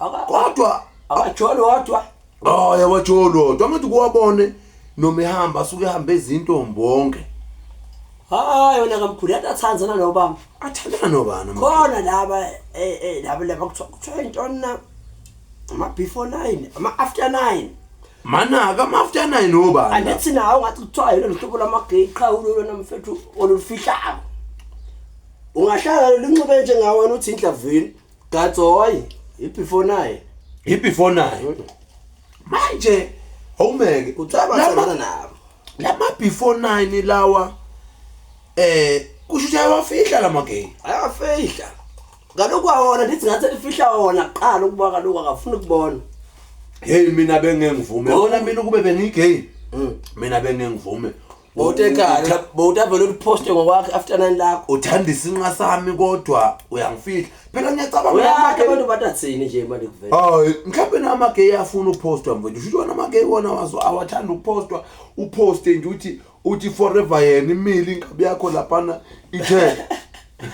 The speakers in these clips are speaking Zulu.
Aka- kodwa akajoli wodwa hhayi abajoli wodwa angithi kuwabone noma ehamba asuke ehambe izintombi wonke hayi yona kamkhulu yathi athandzana nobaba athandana nobani ama- khona laba eh, eh, laba laba kuthiwa kuthiwa intoni na ama-before nine ama-after nine manaka ama-after nine nobani la? andithi nawo ngathi kuthiwa yilo luhlobo lwamageyi qha ulolona mfethu olufihlako ungahlangana lunxibe njengawana uthi indlavini Gatsoy, ibefore naye. Ibefore naye. Manje awumeke ucaba sana nabo. Lama before 9 lawa eh kusho ukuthi ayawafihla lama game. Ayafihla. Kaloku awona ndithi ngathi elifihla wona kuqala ukuba kaloku akafuni ukubona. Hey mina bengengivume. Wona mina ukube bengigame. Mm. Mina bengengivume. bowutekhala bowutavele uliphoste ngokwakhe after nine lakho uthanda isinqa sami kodwa uyangifihla phela ngiyacabanga uyakhe ngamake- abantu batathini nje manje kuvela hayi mhlawumbe namageyi afuna uphostwa mfethu shuthi wona amageyi wona wazo awathanda ukuphostwa uphoste nje uthi uthi forever yena imile inkabi yakho laphana ithe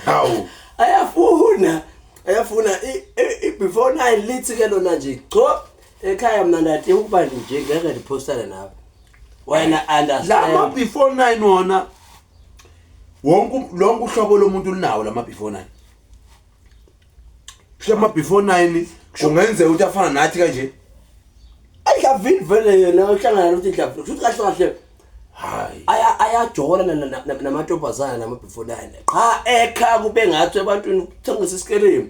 hawu ayafuna ayafuna i- i- i- before nine lithi ke lona nje cho ekhaya mna ndati ukuba nje ngeke ndiphostane nawe wena understand lama before 9 wona wonke lonke uhlobo lomuntu linawo lama before 9 kusho ama before 9 kungenzeka ukuthi afana nathi kanje ayidlavini vele yena ohlangana nokuthi idlavini futhi kahle kahle hayi aya ayajola namantombazana nama before 9 qha ekha kube ngathi ebantwini kuthengisa isikelemu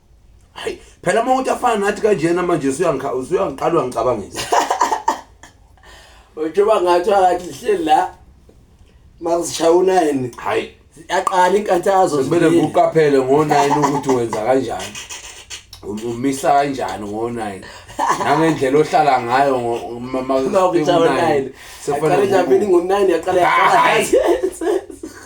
hayi phela uma uthi afana nathi kanjena manje usuyangikha usuyangiqala uyangicabangisa ujoba ngathi akathi lihleli la mazishaya unayini hayi yaqala inkathazo kumele ngiqaphele ngo-nine ukuthi wenza kanjani um- umisa kanjani ngo-nine nangendlela ohlala ngayo ngo-nine sekufanele ngo-nine yaqala yaqala